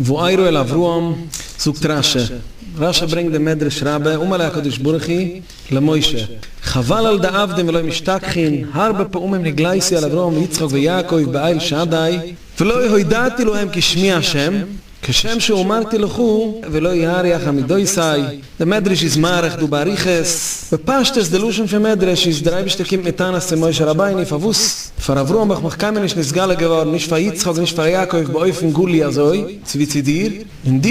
ואירא אל אברהם, זאגט רש י, רש י ברענגט דעם מדרש רבה, אמר ליה הקדוש ברוך הוא למשה, חבל על דעבדין ולא משתכחין, הרבה פעמים הגלייסי על אברהם ויצחק ויעקב באיל שדי, ולא הודעתי להם כי שמי ה', כשם שאמרתי לך, ולא יאריך עמידותי', די מדרש איז מאריך דא באריכות. בפשטות די לשון פון מדרש איז דער אייבישטער קומט מיט טענות צו משה רבינו פארוואס פאר אברהם ביך מיך קיינמאל נישט נתגלה געווארן נישט פאר יצחק און נישט פאר יעקב באופן גלי אזוי צו ווי צו דיר און דו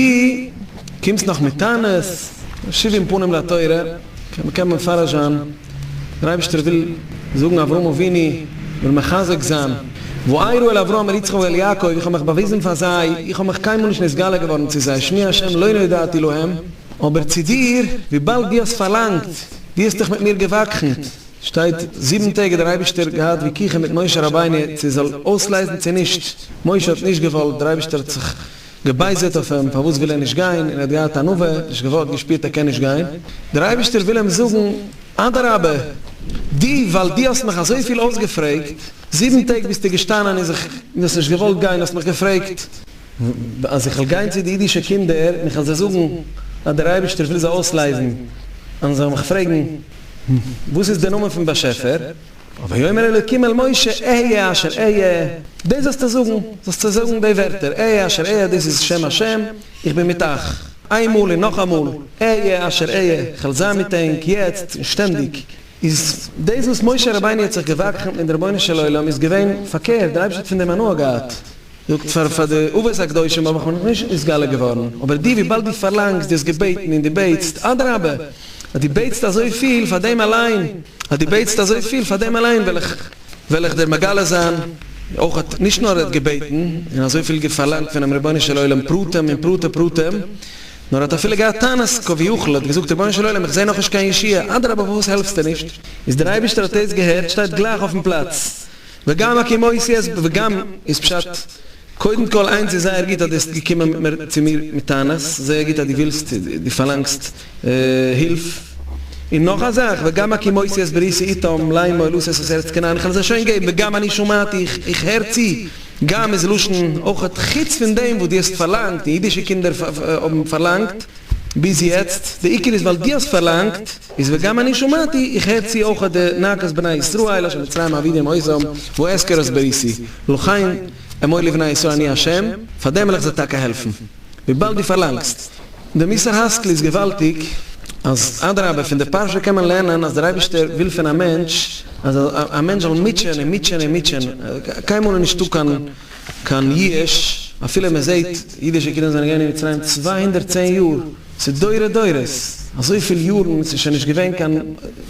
קומסט נאך מיט טענות שבעים פנים לתורה קען מען פארעזשאן. דער אייבערשטער וויל זאגן אברהם אבינו, וויל מחזק זיין, ואעירו אל אברהם אל יצחק ואל יעקב, איך האב מיך באוויזן פאר זיי, איך האב מיך קיינמאל נישט נתגלה געווארן צו זיי, שמי ה' לא נודעתי להם, אבער צו דיר, וויבאלד דו האסט פארלאנגט, דו האסט דיך מיט מיר געוואקחנט, שטייט, זיבן טעג האט דער אייבערשטער געהאט וויכוחים מיט משה רבינו צו עס זאל אויסלייזן צו נישט, משה האט נישט געוואלט, דער אייבערשטער האט זיך געבייזערט אויף אים פארוואס וויל ער נישט גיין און ער האט געהאט ענווה, נישט געוואלט, געשפירט ער קען נישט גיין, דער אייבערשטער וויל אים זאגן, אדרבה, דו ווייל דו האסט מיך אזויפיל אויסגעפרעגט, זיבן טעג ביסטו געשטאנען און זיך, דו האסט נישט געוואלט גיין, האסט מיך געפרעגט, אז איך וועל גיין צו די אידישע קינדער און איך וועל זיי זאגן אז דער אייבערשטער וויל זיי אויסלייזן, און זיי זאלן מיך פרעגן, וואס איז דער נאמען פון באשעפער? ויאמר אלוקים אל משה אהיה אשר אהיה, דאס זאלסטו זאגן, זאלסטו זאגן די ווערטער, אהיה אשר אהיה, דאס איז שם השם, איך בין מיט אייך, איינמאל און נאכאמאל, אהיה אשר אהיה, איך וועל זיין מיט ענק, יעצט און שטענדיג. איז דאס וואס משה רבינו האט זיך געוואקחנט מיט דער רבונו של עולם איז געווען פארקערט, דער אייבערשטער האט פון דעם הנאה געהאט. זאגט פאר פאר די אבות הקדושים האב איך מיר נאכנישט נתגלה געווארן, אבער דו וויבאלד דו פארלאנגסט, דו האסט געבעטן און דו בעטסט, אדרבה, אז דו בעטסט אזויפיל, פאר דעם אליין, אז דו בעטסט אזויפיל, פאר דעם אליין וועל איך וועל איך דיר מגלה זיין, אויך האט נישט נאר ער האט געבעטן און אזויפיל פארלאנגט פונעם רבונו של עולם פרטים און פרטי פרטים, נאר ער האט אפילו געהאט טענות כביכול, ער האט געזאגט רבונו של עולם איך זעה נאכנישט קיין ישועה, אדרבה פארוואס העלפסטו נישט, איז דער אייבערשטער האט עס געהערט שטייט גלייך אויפן פלאץ. וגם הכי מוסי אז וגם איז פשט, קודם כל איינס איז זייער גוט אז די האסט געקומען מיט מיר צו מיר מיט טענות, זייער גוט אז די ווילסט די פארלאנגסט הילף, און נאך א זאך וגם הכי מוסי אז בריסי איתם ליימו אל עושה את הארץ כנען, איך האב עס שוין געגעבן, וגם אני שמעתי איך הער צו, גם איז לשון אויכעט, חוץ פון דעם וואס די האסט פארלאנגט און אידישע קינדער האבן פארלאנגט ביז יעצט, די עיקר איז ווייל די האסט פארלאנגט, איז וגם אני שמעתי, איך הער צו אויך די נאקת בני ישראל אשר מצרימה אבידי עם עוזם, והוא אזכר את בריתי, לכן אמור לבני ישראל אני השם, פארדעם וועל איך זיי טאקע העלפן. וויבאלד דו פארלאנגסט די מוסר השכל איז געוואלדיג, אז אדרבה פון די פרשה קען מען לערנען אז דער אייבערשטער וויל פון א מענטש אז א מענטש זאל מוטשען און מוטשען און מוטשען, קיינמאל איז נישטא קיין קיין יאוש, אפילו מען זעט אידישע קינדער זענען געווען אין מצרים צוויי הונדערט צען יאר, צו דורי דורות, אזויפיל יארן, ס'איז שוין נישט געווען קיין,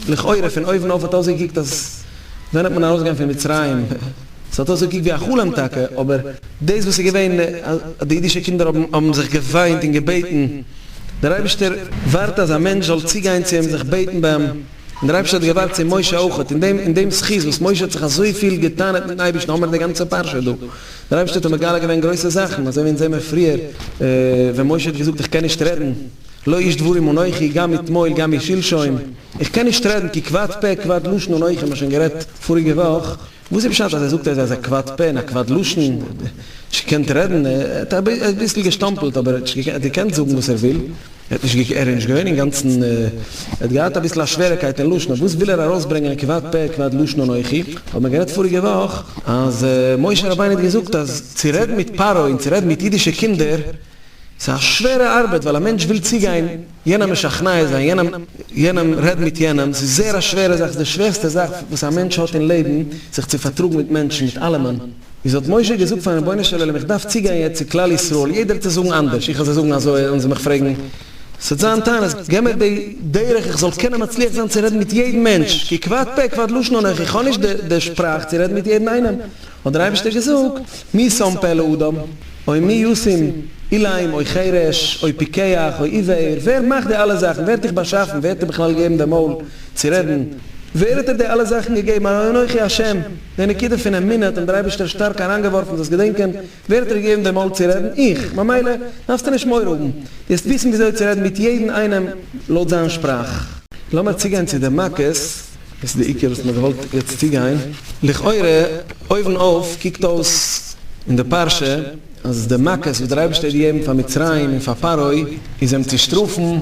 לכאורה פון אויבן אויף האט אויסגעקוקט אז ווען וועט מען ארויסגיין פון מצרים, ס'האט אויסגעקוקט ווי א חלום טאקע, אבער דאס וואס איז געווען אז די אידישע קינדער האבן האבן זיך געוויינט און געבעטן, דער אייבערשטער ווארט אז א מענטש זאל צוגיין צו אים זיך בעטן ביי אים, און דער אייבערשטער האט געווארט צו משה אויך, און דעם און דעם זכות וואס משה האט זיך אזויפיל גע'טענה'ט מיטן אייבערשטן, האמער די גאנצע פרשה דא, דער אייבערשטער האט אים מגלה געווען גרויסע זאכן, אזוי ווי אונז זעמער פריער ווען משה האט געזאגט איך קען נישט רעדן, לא איש דברים אנוכי, גם אתמול גם אי שלשום, איך קען נישט רעדן כי כבד פה כבד לשון אנוכי, מיר האבן שוין גערעדט פאריגע וואך, וואס איז פשט אז ער זאגט אז ער איז א כבד פה און א כבד לשון, ער האט נישט געקענט רעדן, ער האט אביסל געשטאמפלט אבער ער האט געקענט זאגן וואס ער וויל. ער האט נישט געקענט, ער איז נישט געווען אינגאנצן, ער האט געהאט אביסל א שווערעקייט אין לשון, אויף וואס וויל ער ארויסברענגען כבד פה כבד לשון אנכי, האבן מיר גערעדט פאריגע וואך אז משה רבינו האט געזאגט אז צו רעדן מיט פרעה און צו רעדן מיט אידישע קינדער איז א שווערע ארבעט ווייל א מענטש וויל צוגיין יענעם משכנע זיין יענעם יענעם רעדן מיט יענעם ס'איז זעהר א שווערע זאך ס'איז די שווערסטע זאך וואס א מענטש האט אין לעבן זיך צו פארטראגן מיט מענטשן מיט אלעמען. איז האט משה געזאגט פארן רבונו של עולם איך דארף צוגיין יעצט צו כלל ישראל יעדער צו זאגן אנדערש איך וועל זיי זאגן אזוי וועלן זיי מיך פרעגן ס'וועט זיין טענות געב מיר די דרך איך זאל קענען מצליח זיין צו רעדן מיט יעדן מענטש כי כבד פה כבד לשון און איך האב נישט די שפראך צו רעדן מיט יעדן איינעם האט דער אייבערשטער געזאגט מי שם פה לאדם אוי מי ישים איליים אוי חירש אוי פיקח אוי עיוור ווער מאכט די אלע זאכן ווער האט דיך באשאפן ווער האט דיר בכלל געגעבן די מויל צו רעדן ווער האט דיר די אלע זאכן געגעבן הרי אנכי השם. די נקודה פון אמונה האט אים דער אייבערשטער שטארק אריינגעווארפן דאס געדענקען, ווער האט דיר געגעבן דעם מויל צו רעדן? איך, ממילא דארפסטו נישט מורא האבן, דו וועסט וויסן וויאזוי צו רעדן מיט יעדן איינעם לויט זיין שפראך. לאמיר צוגיין צו די מכות, דאס איז די עיקר וואס מען האט געוואלט יעצט צוגיין, לכאורה אויבן אויף קוקט אויס אין די פרשה אז די מכות וואס דער אייבערשטער האט געגעבן פאר מצרים און פאר פרעה איז אים צו שטראפן,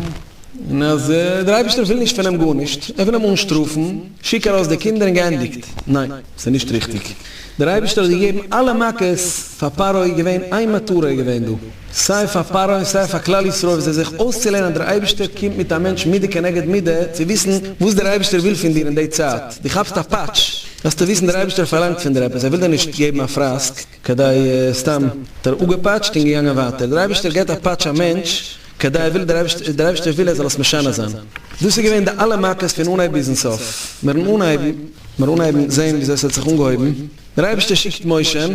און אז דער אייבערשטער וויל נישט פון אים גארנישט, ער וויל אים אנשטראפן. שיק ארויס די קינדער און געענדיגט. ניין, ס'איז נישט ריכטיג. דער אייבערשטער האט געגעבן אלע מכות פאר פרעה, איז געווען איין מטרה איז געווען דא, סיי פאר פרעה און סיי פאר כלל ישראל ווי זיי זיך אויסצולערנען אז דער אייבערשטער קומט מיט א מענטש מידה כנגד מידה, צו וויסן וואס דער אייבערשטער וויל פון דיר אין די צייט דו כאפסט א פאטש, זאלסטו וויסן דער אייבערשטער פארלאנגט פון דיר עפעס, ער וויל דיר נישט געבן א פראסק. כדי סתם דער אפגעפאטשט און געגאנגען ווייטער. דער אייבערשטער געט א פאטש א מענטש כדי ער וויל דער אייבערשטער וויל ער זאל עס משנה זיין. דאס איז געווען די אלע מכות פון אנהייב ביזן סוף. מיר האבן אנהייבן מיר אנהייבן זען וויאזוי עס האט זיך אנגעהויבן. דער אייבערשטער שיקט משה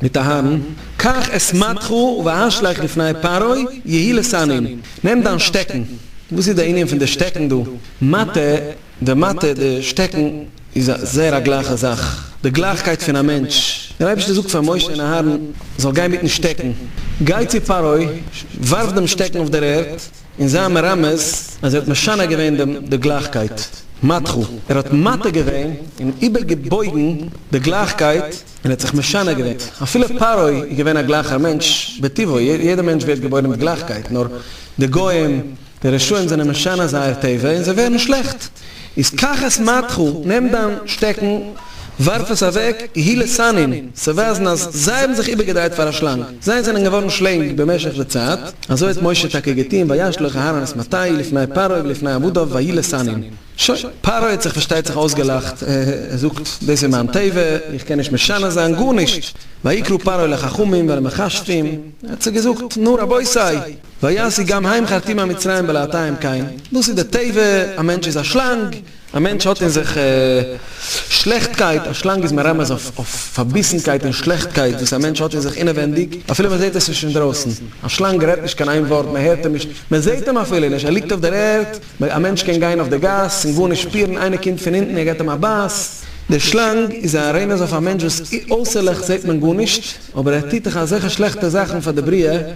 מיט אהרן, קח את מטכו והשליך לפני פרעה יהי לשנאים. נעם דיין שטעקן. וואס איז די ענין פון די שטעקן דא? מטה. די מטה, די שטעקן, איז א זייער א גלייכע זאך, די גלייכקייט פון א מענטש. דער אייבערשטער זאגט פאר משה און אהרן זאל גיין מיטן שטעקן, גיי צו פרעה, ווארף דעם שטעקן אויף דער ערד, און זיי מרמז אז ער האט משנה געווען דעם די גלייכקייט, מטכו, ער האט מטה געווען און איבער געבויגן די גלייכקייט און ער האט זיך משנה געווען, אפילו פרעה איז געווען א גלייכער מענטש בטבעו, יעדער מענטש ווערט געבוירן מיט גלייכקייט, נאר די גוים. די רשעים זענען משנה זייער טבע און זיי ווערן שלעכט, איז קח את מתך, נעם דיין שטעקן, ווארף עס אוועק, היא לסנין, צו ווייזן אז זיי האבן זיך איבערגעדרייט פאר א שלאנג, זיי זענען געווארן שלענג במשך די צייט, אזוי האט משה טאקע געטון, וישלח אהרן את מטהי לפני פרעה ולפני עבדיו ויהי לסנין. שוין, פרעה האט זיך פארשטייט זיך אויסגעלאכט, ער זאגט, דאס איז מיין טבע, איך קען נישט משנה זיין גארנישט, ויקרא פרעה לחכמים ולמכשפים, ער האט זיי געזאגט, נו רבותי! ויעשי גם הים חרטים המצרים בלעתיים קיין, דאס איז די טבע, א מענטש איז א שלאנג, א מענטש האט אין זיך שלעכטקייט, א שלאנג איז מרמז אויף פארביסנקייט און שלעכטקייט וואס א מענטש האט אין זיך אינעווענדיג, אפילו מען זעט עס נישט אינדרויסן, א שלאנג רעדט נישט קיין איין ווארט, מען הערט אים נישט, מען זעט אים אפילו נישט, ער ליגט אויף דער ערד, א מענטש קען גיין אויף די גאס און גארנישט שפירן, איינער קומט פון אונטן און געבט אים א בייס, דער שלאנג איז א רמז אויף א מענטש וואס אויסערליך זעט מען גארנישט, אבער ער טוט דאך אזעלכע שלעכטע זאכן פאר די בריאה.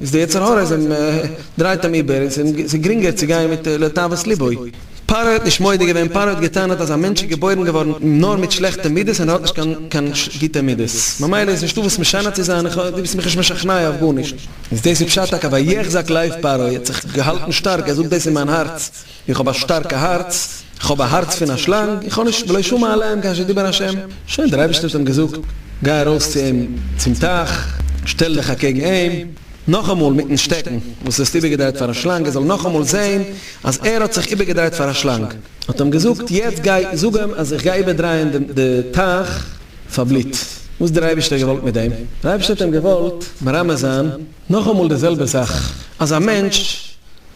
איז די יצר הרע זינד מען דרייט אים איבער און ס'איז גרינגער צו גיין מיט לתאוות לבו. פרעה האט נישט מודה געווען, פרעה האט געטענה'ט אז א מענטש איז געבוירן געווארן נאר מיט שלעכטע מידות און ער האט נישט קיין גוטע מידות, ממילא איז נישטא וואס משנה צו זיין, איך, דו ביסט מיך נישט משכנע אויף גארנישט. איז דאס איז פשט הקב ה, ויחזק לב פרעה, ער האט זיך געהאלטן שטארק, ער זאגט דאס אין מיין הארץ, איך האב א שטארקע הארץ, איך האב א הארץ פון א שלאנג, איך האב נישט בלא שום מעלה אין קיין שדי בין השם, שוין דער אייבערשטער האט אים געזאגט, גיי ארויס צו אים צום טייך, שטעל דיך אקעגן אים, נאכאמאל מיטן שטעקן וואס האסט איבערגעדרייט פאר א שלאנג, ער זאל נאכאמאל זען אז ער האט זיך איבערגעדרייט פאר א שלאנג, האט אים געזאגט, יעצט גיי זאג אים אז איך גיי איבערדרייען די טייך פאר בלוט, וואס האט דער אייבערשטער געוואלט מיט דעם? דער אייבערשטער האט אים געוואלט מרמז זיין נאכאמאל די זעלבע זאך, אז א מענטש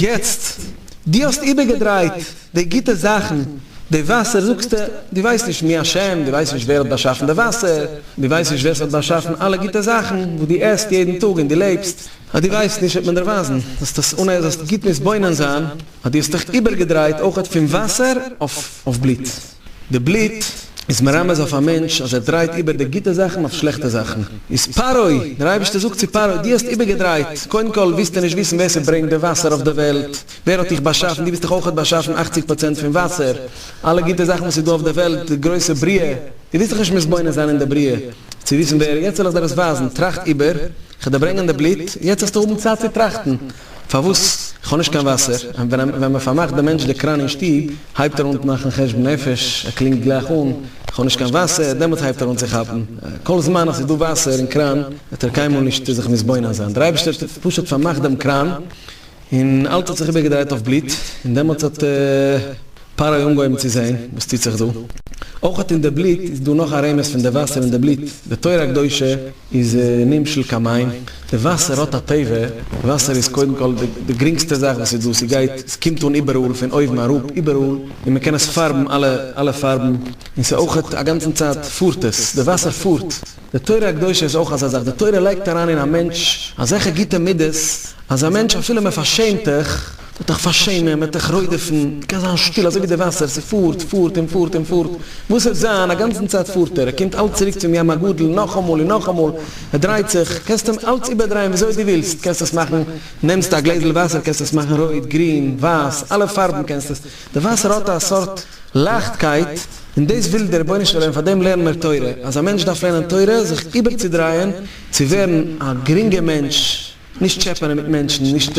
יעצט, דו האסט איבערגעדרייט די גוטע זאכן, די וואסער זאגסטו, דו ווייסט נישט מי השם, דו ווייסט נישט ווער האט באשאפן די וואסער, דו ווייסט נישט ווער ס'האט באשאפן אלע גוטע זאכן וואס דו עסט יעדן טאג און דו לעבסט, אז דו ווייסט נישט וועט מען דיר ווייזן, זאלסט עס אן אז זאלסט גוט מתבונן זיין, אז דו האסט דיך איבערגעדרייט אויך פון וואסער אויף בלוט. די בלוט איז מרמז אויף א מענטש אז ער דרייט איבער די גוטע זאכן אויף שלעכטע זאכן. איז פרעה, דער אייבערשטער זאגט צו פרעה, דו האסט איבערגעדרייט, קודם כל ווילסטו נישט וויסן ווער ס'ברענגט די וואסער אויף די וועלט, ווער האט דיך באשאפן, דו ביסט דאך אויך באשאפן אכציג פראצענט פון וואסער, אלע גוטע זאכן וואס איז דא אויף די וועלט, די גרויסע בריאה, דו ווילסט דיך נישט מתבונן זיין אין די בריאה צו וויסן ווער, יעצט וועל איך דיר עס ווייזן, טראכט איבער, כדי ברענגען די בלוט, יעצט וועסטו האבן צייט צו טראכטן. פארוואס? כ'האב נישט קיין וואסער. ווען מ'פארמאכט דעם מענטש די קראן אין שטוב, הייבט ער אן מאכן חשבון נפש, ער קלינגט גלייך אן, כ'האב נישט קיין וואסער, דעמאלטס הייבט ער אן צו כאפן. כל זמן אז ס'איז דא וואסער אין קראן, וועט ער קיינמאל נישט זיך מתבונן זיין. דער אייבערשטער האט פשוט פארמאכט דעם קראן, און אלץ האט זיך איבערגעדרייט אויף בלוט, און דעמאלטס האט פרעה אנגעהויבן צו זען וואס טוט זיך דא. אויך אין די בלוט איז דא נאך א רמז פון די וואסער אין די בלוט, די תורה הקדושה, איז נמשל קיין מים, די וואסער האט א טבע, וואסער איז קודם כל די גרינגסטע זאך וואס איז דא, ס'גייט, ס'קומט אן איבעראל, פון אויבן אראפ, איבעראל, און מען קען עס פארבן אלע אלע פארבן, און ס'איז אויך א גאנצן צייט פארט עס, די וואסער פארט, די תורה הקדושה איז אויך אזא זאך, די תורה לייגט אריין אין א מענטש אזעלכע גוטע מידות, אז א מענטש אפילו מען פארשעמט דיך, מ'וועט דיך פארשעמען, מ'וועט דיך רודפ'ן, מ'קען זיין שטיל אזוי ווי די וואסער, ס'פארט, פארט און פארט און פארט, וואס וועט זיין? א גאנצן צייט פארט ער, ער קומט אלץ צוריק צום ים הגדול, נאכאמאל און נאכאמאל, ער דרייט זיך, קענסט אים אלץ איבערדרייען וויאזוי דו ווילסט, קענסט עס מאכן, נעמסט א גלעזל וואסער קענסט עס מאכן רויט, גרין, ווייס, אלע פארבן קענסט עס, די וואסער האט א סארט לייכטקייט, און דאס וויל דער רבונו של עולם, פאר דעם לערן מיר תורה, אז א מענטש דארף לערנען תורה, זיך איבערצודרייען, צו ווערן א גרינגע מענטש. נישט טשעפענען מיט מענטשן, נישט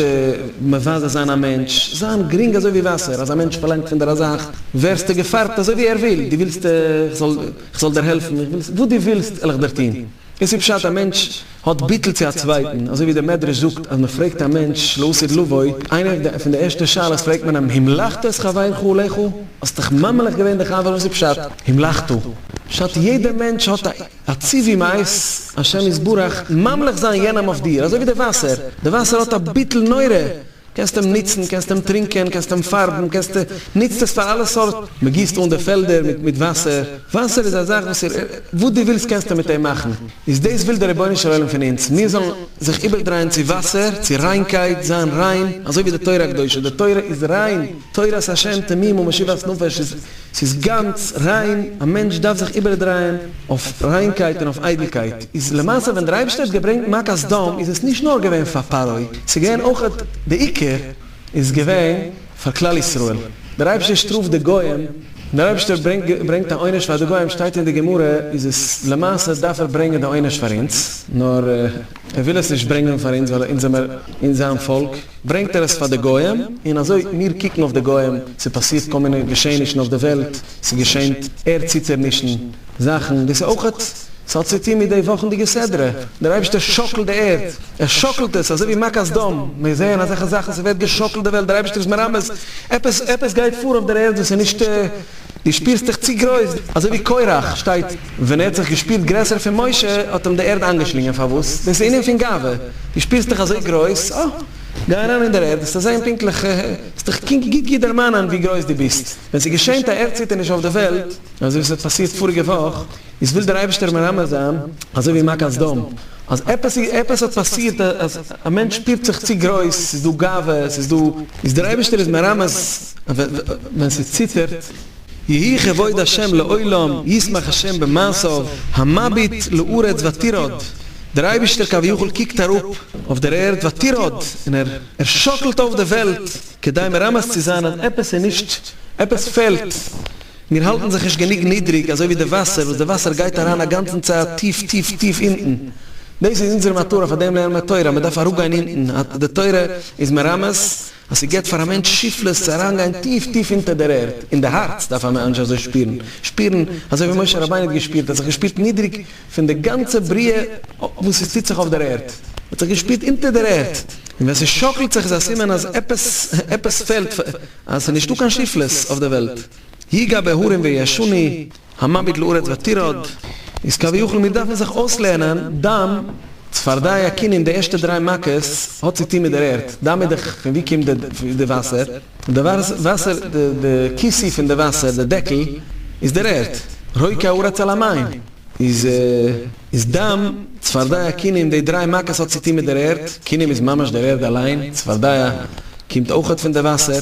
מבזה זיין א מענטש, זיין גרינג אזוי ווי וואסער, אז א מענטש פארלאנגט פון דיר א זאך, ווערסטו געפארבט אזוי ווי ער וויל, דו ווילסט איך זאל איך זאל דיר העלפן, איך וויל וואס דו ווילסט וועל איך דיר טון, דאס איז פשט א מענטש האט ביטול צו א צווייטן, אזוי ווי דער מדרש זאגט אז מען פרעגט א מענטש שלא עשית לבו, איינע פון די ערשטע שאלות פרעגט מען אים המלכת את חברך לך, האסט דיך ממליך געווען די חבר, וואס איז פשט המלכתו, פשט יעדע מענטש האט א. א צו ווי מייז, השם יתברך, ממליך זיין יענעם אויף דיר, אזוי ווי די וואסער, די וואסער האט א ביטול נורא, קענסט אים נוצן, קענסט אים טרינקען, קענסט אים פארבן, קענסט, נוצט עס פאר אלע סארט, מען גיסט אן די פעלדער מיט מיט וואסער, וואסער איז א זאך וואס איר, וואס דו ווילסט קענסטו מיט אים מאכן, איז דאס וויל דער רבונו של עולם פון אונז, מיר זאלן זיך איבערדרייען צו וואסער, צו ריינקייט, זיין ריין, אזוי ווי די תורה הקדושה, די תורה איז ריין, תורת ה' תמים ומשיבת נפש איז. ס'איז גאנץ ריין, א מענטש דארף זיך איבערדרייען אויף ריינקייט און אויף איידלקייט, איז למעשה ווען דער אייבערשטער האט געברענגט מכת סדום איז עס נישט נאר געווען פאר פרעה, ס'איז געווען אויך די עיקר איז געווען פאר כלל ישראל, דער אייבערשטער שטראפט די גוים, ווען דער אייבערשטער ברענגט א עונש פאר די גוים שטייט אין די גמרא איז עס למעשה דארף ער ברענגען די עונש פאר אונז, נאר. ער וויל עס נישט ברענגען פאר אונז ווייל אונז זעמער און זיין פאלק, ברענגט ער עס פאר די גוים, און אזוי מיר קוקן אויף די גוים, ס'פאסירט כל מיני געשעענישן אויף די וועלט, ס'געשענט ערדציטערנישן, זאכן, דאס איז אויך, ס'האט צו טון מיט די וואכנדיגע סדרה, דער אייבישטער שאקלט די ערד, ער שאקלט עס, אזוי ווי מכת דם, מיר זעען אזעלכע זאכן, ס'ווערט געשאקלט די וועלט, דער אייבישטער איז מרמז, עפעס גייט פאר אויף דער ערד וואס איז נישט. דו שפירסט דיך צו גרויס, אזוי ווי קורח, שטייט, ווען ער האט זיך געשפירט גרעסער פון משה, האט אים די ערד איינגעשלינגען, פארוואס? דאס איז ענין פון גאווה, דו שפירסט דיך אזוי גרויס, אה, גיי אריין אין דער ערד, וועסטו זען פונקטליך, אה, וועסט דיך קינג גוט גוט דערמאנען ווי גרויס דו ביסט, ווען ס'געשענט א ערדציטערניש אויף די וועלט, אזוי ווי ס'האט פאסירט פאריגע וואך, איז וויל דער אייבערשטער מרמז זיין, אזוי ווי מכת סדום, אז עפעס האט פאסירט אז א מענטש שפירט זיך צו גרויס, עס איז דא גאווה, עס איז דא, איז דער אייבערשטער איז מרמז, ווען ס'איז ציטערט, יהי כבוד השם לעולם, ישמח השם במעשיו, המביט לארץ ותרעוד, דער אייבערשטער כביכול קוקט אראפ אויף דער ערד ותרעוד, און ער שאקלט אויף די וועלט, כדי מרמז צו זיין אז עפעס איז נישט, עפעס פעלט. מיר האלטן זיך נישט גענוג נידריג אזוי ווי די וואסער וואס די וואסער גייט אריין א גאנצן צייט טיף טיף טיף אונטן. דאס איז אונזער מטרה פאר דעם לערנען תורה אז מען דארף אראפגיין אונטן אז די תורה איז מרמז אז ס'געט פאר א מענטש שפלות צו אריינגיין טיף טיף אונטער דער ערד אין די הארץ דארף א מענטש אזוי שפירן שפירן אזוי ווי משה רבינו האט געשפירט ער האט זיך געשפירט נידריג פון די גאנצע בריאה וואס עס טוט זיך אויף דער ערד ער האט זיך געשפירט אונטער דער ערד און ווען ס'שאקלט זיך איז א סימן אז עפעס עפעס פעלט אז ס'איז נישטא קיין שיפלעס אויף די וועלט, יגע בהרים ויעשני, המביט לארץ ותרעד, איז כביכול מיר דארפן זיך אויסלערנען דאם צפרדע יקינין די ערשטע דריי מכות האט צו טוהן מיט דער ערד, דאם איז דאך פון ווי קומט די וואסער, די וואסער די כיסוי פון די וואסער די דעקל איז דער ערד, רוקע הארץ על המים איז. איז דם, צפרדיה קינם און די דריי מכות האט צוטון מיט דער ערד, קינם איז ממש דער ערד אליין, צפרדיה קומט אויכעט פון די וואסער,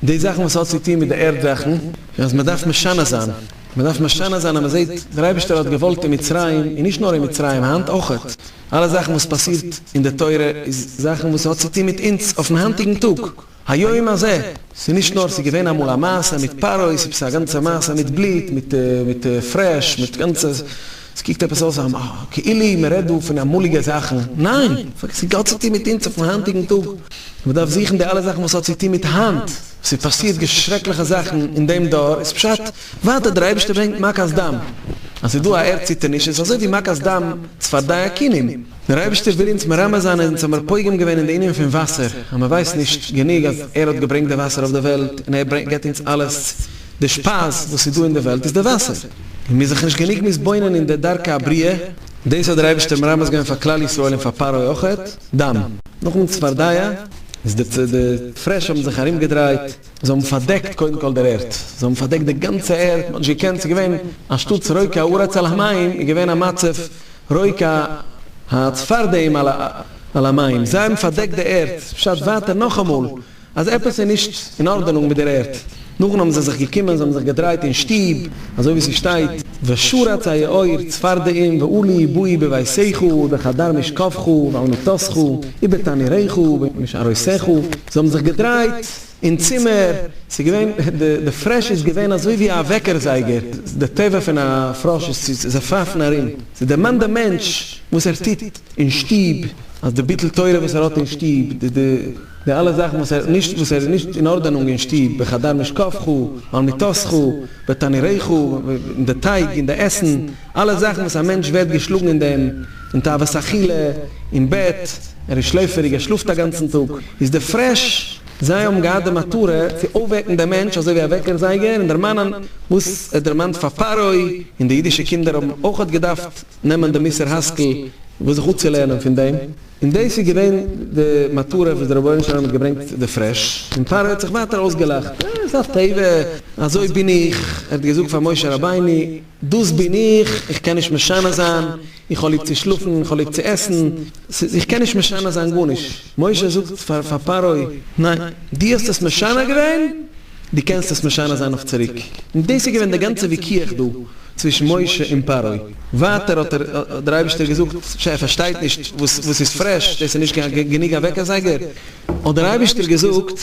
די זאכן וואס האט צוטון מיט די ערד זאכן, און אז מען דארף משנה זיין, מען דארף משנה זיין אז מען זעט דער אייבערשטער האט געוואלט אין מצרים, און נישט נאר אין מצרים, היינט אויכעט, אלע זאכן וואס פאסירט אין די תורה איז זאכן וואס האט צוטון מיט אונז אויפן היינטיגן טאג. היום הזה, ס'נישט נאר ס'געווען אמאל א מעשה מיט פרעה ס'איז א גאנצע מעשה מיט בלוט מיט מיט פרעש מיט גאנצע ס'קוקט עפעס אויס א כאילו מ'רעדט דא פון אמאליגע זאכן ניין ס'האט צו טון מיט אונז אויפן היינטיגן טאג מ'דארף זוכן די אלע זאכן וואס האט צו טון מיט היינט ס'איז פאסירט די שרעקליכע זאכן אין דעם דור איז פשט ווייטער דער אייבערשטער ברענגט מכת דם אז ס'איז דא א ערד ציטערניש איז אזוי ווי מכת דם צפרדע כינים דער אייבערשטער וויל אונז מרמז זיין אז אונז האמיר פוגם געווען אין די ענין פון וואסער, אז מען ווייסט נישט גענוג אז ער האט געברענגט די וואסער אויף די וועלט און ער ברענגט געבט אונז אלעס, די שפייז וואס איז דא אין די וועלט איז די וואסער, און מיר זיך נישט גענוג מתבונן אין די דרכי הבריאה, דאס האט דער אייבערשטער מרמז געווען פאר כלל ישראל און פאר פרעה אויכעט, דם. נאכן צפרדע איז די די פרעש האבן זיך ארום געדרייט, זיי האבן פארדעקט קודם כל דער ערד, זיי האבן פארדעקט די גאנצע ערד, מען האט נישט געקענט, ס'איז געווען אנשטאט רויקע הארץ על המים איז געווען א מצב רויק א הארץ פארדעים על המים, זיי האבן פארדעקט די ערד, פשט ווייטער נאכאמאל אז עפעס איז נישט אין ארדענונג מיט דער ערד, נאכדעם האבן זיי זיך געקומען, זיי האבן זיך געדרייט אין שטוב, אזוי ווי ס'שטייט, ושרץ היאור צפרדעים ועלי באי בביתך ובחדר משכבך ועל מיטתך ובתעניריך ובמשעריתך, זיי האבן זיך געדרייט. אין צימער, ס'איז געווען, די פרעש איז געווען אזוי ווי א וועקער זייגער, די טבע פון א פראש איז צו זיך פייפן ארום, ס'איז דערמאנט דעם מענטש וואס ער טוט אין שטוב, אז די ביטול תורה וואס ער האט אין שטוב, די אלע זאכן וואס ער נישט, וואס ער איז נישט אין ארדענונג אין שטוב, בחדר משכבך, ועל מיטתך, ותנירייך, אין די טייג, אין די עסן. אלע זאכן וואס א מענטש ווערט געשלאגן אין דעם, אין תאוות אכילה, אין בעט, ער איז שלעפעריג, ער שלאפט א גאנצן טאג, איז די פרעש, זיי האבן געהאט די מטרה צו אויפוועקן דעם מענטש אזוי ווי א וועקער זייגער און דערמאנען וואס ער דערמאנט פאר פרעה, און די אידישע קינדער האבן אויך האט געדארפט נעמען די מוסר השכל וואס זיך אצולערנען פון דעם, און דאס איז געווען די מטרה וואס דער רבונו של עולם האט געברענגט די פרעש, און פרעה האט זיך ווייטער אויסגעלאכט, אה, ס'איז א טבע, אזוי בין איך, ער האט געזאגט פאר משה רבינו. דאס בין איך, איך קען נישט משנה זיין, איך האב ליב צו שלאפן, איך האב ליב צו עסן, ס'איז איך קען נישט משנה זיין גארנישט, משה זאגט פאר פאר פרעה, ניין, דו האסט עס משנה געווען, דו קענסט עס משנה זיין אויף צוריק, און דאס איז געווען די גאנצע וויכוח דא צווישן משה און פרעה, ווייטער האט ער, האט דער אייבערשטער געזאגט, ש ע פארשטייט נישט וואס וואס איז פרעש, דאס איז נישט קיין גענוג א וועקער זייגער, האט דער אייבערשטער געזאגט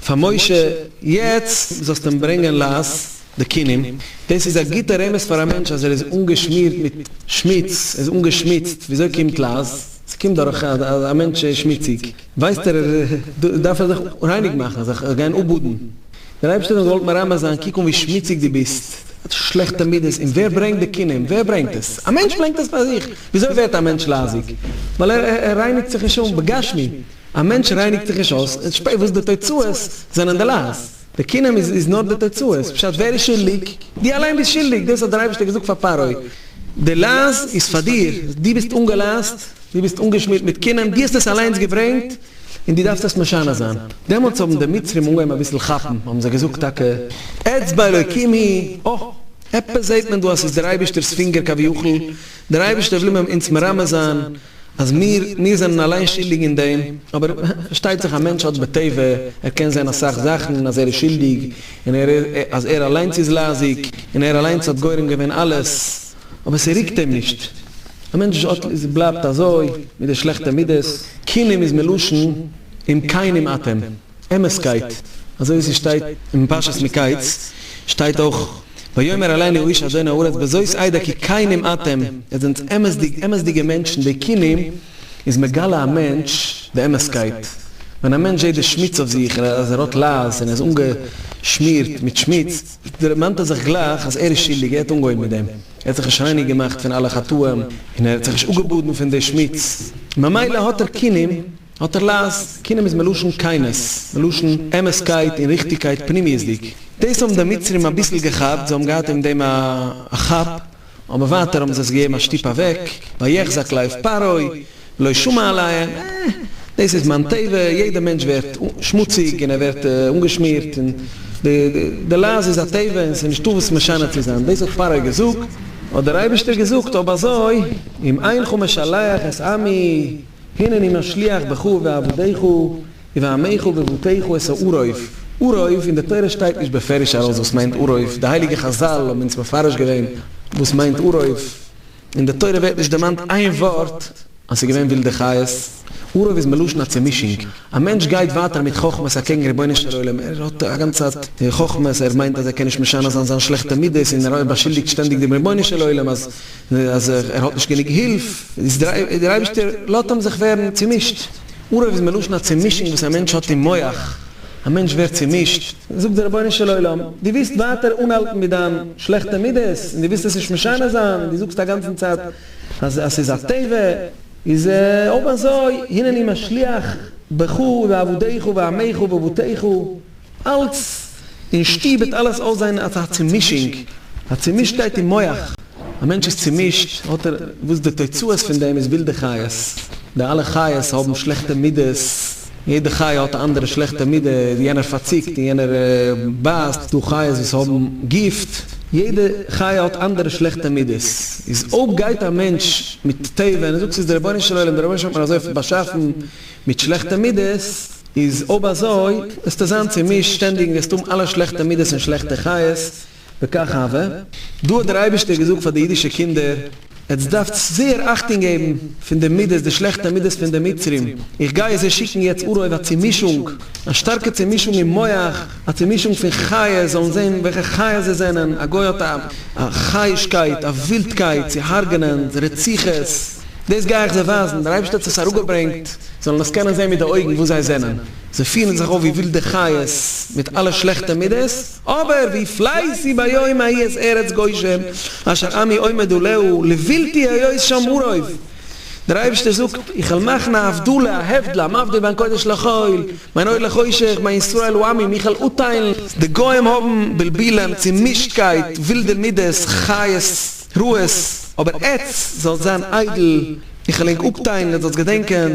פאר משה, יעצט זאלסטו אים ברענגען לאז די כינים, דאס איז א גוטע רמז פאר א מענטש אז ער איז אנגעשמירט מיט שמוץ, ער איז אנגעשמוצט, וויאזוי קומט לאז? ס'קומט דורך אז א מענטש איז שמוציג, ווייסט ער דארף ער זיך רייניג מאכן, זיך גיין אפבאדן, דער אייבערשטער האט געוואלט מרמז זיין, קוק אן ווי שמוציג דו ביסט, שלעכטע מידות, און ווער ברענגט די כינים? ווער ברענגט עס? א מענטש ברענגט עס פאר זיך, וויאזוי ווערט א מענטש לייזיג? ווייל ער רייניגט זיך נישט אן, בגשמי, א מענטש רייניגט זיך נישט אויס, וואס די תוצאות זענען די לאז. די קינעם איז איז נאר די תוצאה, עס פשט ווער איז שולדיג? די אליין ביסט שולדיג, דאס האט דער אייבערשטער געזאגט פאר פרעה, די לאז איז פאר דיר, דו ביסט אנגעלאזט, דו ביסט אנגעשמירט מיט קינעם, דו האסט עס אליינס געברענגט, און דו דארפסט עס משנה זיין. דעמאלטס האבן די מצרים אנגעהויבן אביסל כאפן, האבן זיי געזאגט טאקע, אצבע אלוקים היא, אוי, עפעס זעט מען דא אז ס'איז דער אייבערשטער'ס פינגער כביכול, דער אייבערשטער וויל מיר אונז מרמז זיין, אז מיר מיר זענען אליין שולדיג אין דעם, אבער פארשטייט זיך א מענטש האט בטבע, ער קען זען אסאך זאכן אז ער איז שולדיג, און ער אז ער אליינס איז לייזיג, און ער אליינס האט גורם געווען אלעס, אבער ס'רוקט אים נישט, א מענטש האט איז בלייבט אזוי מיט די שלעכטע מידות, כינים איז מלשון אם כינים אתם. אמת'קייט, אזוי ווי ס'שטייט אין פרשת מקץ, שטייט אויך, ויאמר אלינו איש אדון הארץ בזאת איידא כי כנים אתם, איר זענט אמת'דיג, אמת'דיגע מענטשן, די כנים איז מגלה א מענטש די אמת'קייט, ווען א מענטש זעט די שמוץ אויף זיך און אז ער האט לייז און ער איז אנגעשמירט מיט שמוץ, דערמאנט ער זיך גלייך אז ער איז שולדיג, ער האט אנגעהויבן מיט דעם, ער האט זיך נישט רייניג געמאכט פון אלע חטאים און ער האט זיך נישט אפגעבאדן פון די שמוץ, ממילא האט ער כנים. האט ער לאז, קינעם איז מלשון כנות, מלשון אמת'קייט און ריכטיגקייט פנימיות'דיג. דאס האבן די מצרים אביסל געכאפט, זיי האבן געהאט אין דעם א כאפ, אבער ווייטער האבן זיי עס געגעבן א שטופ אוועק, ויחזק לב פרעה, ולא שמע אליהם, עה, דאס איז מיין טבע, יעדער מענטש ווערט שמוציג און ער ווערט אנגעשמירט, און די לאז איז א טבע און ס'איז נישטא וואס משנה צו זיין, דאס האט פרעה געזאגט, האט דער אייבערשטער געזאגט, אויב אזוי, אם אינך משלח את עמי. הנני משליך בך ובעבדיך ובעמיך ובבתיך את העורב, עורב, אין די תורה שטייט נישט בפירוש ארויס וואס מיינט עורב, די הייליגע חזל האבן אונז מפרש געווען וואס מיינט עורב, אין די תורה ווערט נישט דערמאנט איין ווארט אז ס'איז געווען ווילדע חיות, עורב איז מלשון א צומישונג, א מענטש גייט ווייטער מיט חכמות אקעגן רבונו של עולם, ער האט א גאנצע צייט חכמות, ער מיינט אז ער קען נישט משנה זיין זיין שלעכטע מידות און ער באשולדיגט שטענדיג דעם רבונו של עולם אז. אז ער האט נישט גענוג הילף, איז דער אייבערשטער לאזט אים זיך ווערן צומישט, ארער איז מלשון א צומישונג וואס א מענטש האט אין מוח, א מענטש ווערט צומישט, זאגט דער רבונו של עולם, דו ווילסט ווייטער אנהאלטן מיט דיין שלעכטע מידות, און דו ווילסט עס נישט משנה זיין, און דו זאגסט א גאנצן צייט אז עס איז א טבע, איז אויב אזוי, הנני משליך בך ובעבדיך ובעמיך ובבתיך, אלץ אין שטוב וועט אלעס אויסזען אלץ א צומישונג, א צומישטקייט אין מח, א מענטש איז צומישט, האט ער, וואס די תוצאות פון דעם איז ווילדע חיות, די אלע חיות האבן שלעכטע מידות, יעדע חיה האט א אנדערע שלעכטע מידה, יענער פארציקט און יענער בייסט, דא חיות וואס האבן גיפט, יעדע חיה האט אנדערע שלעכטע מידות, איז אויב גייט א מענטש מיט טבע, און ער זאגט ס'איז די רבונו של עולם, די רבונו של עולם האט מיר אזוי באשאפן, מיט שלעכטע מידות איז אויב אזוי וועסטו זיין צומישט שטענדיג און וועסט האבן אלע שלעכטע מידות און שלעכטע חיות וכך הוה. דא האט דער אייבישטער געזאגט פאר די אידישע קינדער, עטס דארפטס זייער אכטונג געבן פון די מידות, די שלעכטע מידות פון די מצרים, איך גיי זיי שיקן יעצט ארויף א צומישונג, א שטארקע צומישונג אין מוח, א צעמישונג פון חיות, זאלן זען וועלכע חיות זיי זענען, א גוי האט א א חי'שקייט, א ווילדקייט צו הרג'נען, רציחות, דאס גיי איך זיי ווייזן, דער אייבערשטער האט עס אראפגעברענגט, זאלן עס קענען זען מיט די אויגן וואס זיי זענען, זיי פירן זיך אויף ווי ווילדע חיות מיט אלע שלעכטע מידות, אבער ווי פלייסי ביום ההיא את ארץ גושן אשר עמי עומד עליה לבלתי היות שם אוריו, דער אייבערשטער זאגט איך וועל מאכן א הבדלה, א הבדלה, מבדיל בין קודש לחול, מיין אוהל החושך, מיין ישראל הוא עמי, מיכאל אוטיילן, די גוים האבן בלבילם, צומישטקייט, ווילדע מידות, חיות רעות, אבער עטץ זאלסט זיין איידל, איך וויל ענק אפטיילן, עטץ זאלסט געדענקען,